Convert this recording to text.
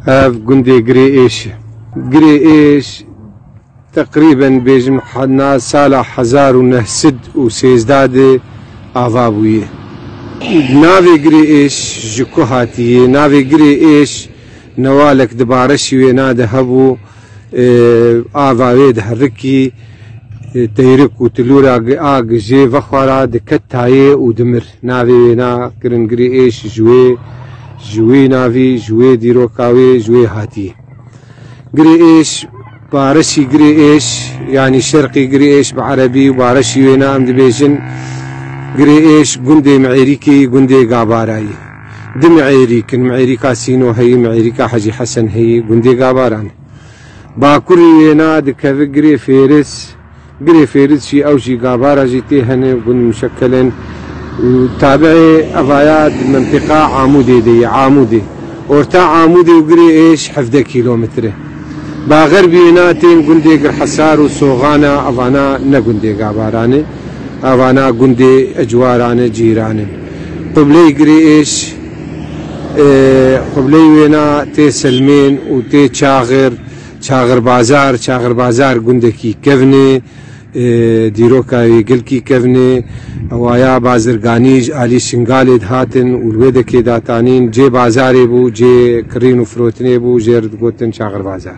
Ev gundê Girê Êş e. Girê Êş teqrîben bêjim na sala hezar û neh sed û sêzdeh de ava bûye. Navê Girê Êş ji ku hatiye? Navê Girê Êş newalek di bareşî wêna de hebû. Ava wê diherikî teyrik û tilûra a gijê vexwe ra diket tayê û dimir. Navê wê na Kiringirî Êş ji wê ji wê navî, ji wê dîroka wê ji wê hatî. Girê Êş Bareşî Girê Êş yanî Şerqî Girê Êş bi erebî û bareşî wê na em dibêjin Girê Êş gundê Miêrîkê yî gundê Gabarayî. Du mi'êrîk in, mi'êrîka Sîno heyî, mi'êrîka Hecî Hesen heyî, gundê Gabaran e. Bakurî wêna dikeve Girê Fêriz, Girê Fêriz jî ew jî Gabara jî tê hene, gund muşekel in û tabi'ê evaya di mentîqa Amûdê de ye, Amûdê. Orta Amûdê û Girê Êş hevdeh kîlometr e. Ba xerbî wêna tên gundê Girhesar û Soxana, evana ne gundê Gabaran e. avana gundê ecwarane cîran in. Qibleyê girê êş e, qibleyê wêna tê Selmên û tê Çaxir, Çaxirbazar, Çaxirbazar gundekî kevnê, e, dîroka wê gilkî kevnê, ewaya bazirganî ji alî Şingalê dihatin û li wê de kê datanîn, cê bazarê bû, cê kirîn û firotinê bû jê re digotin Çaxirbazar.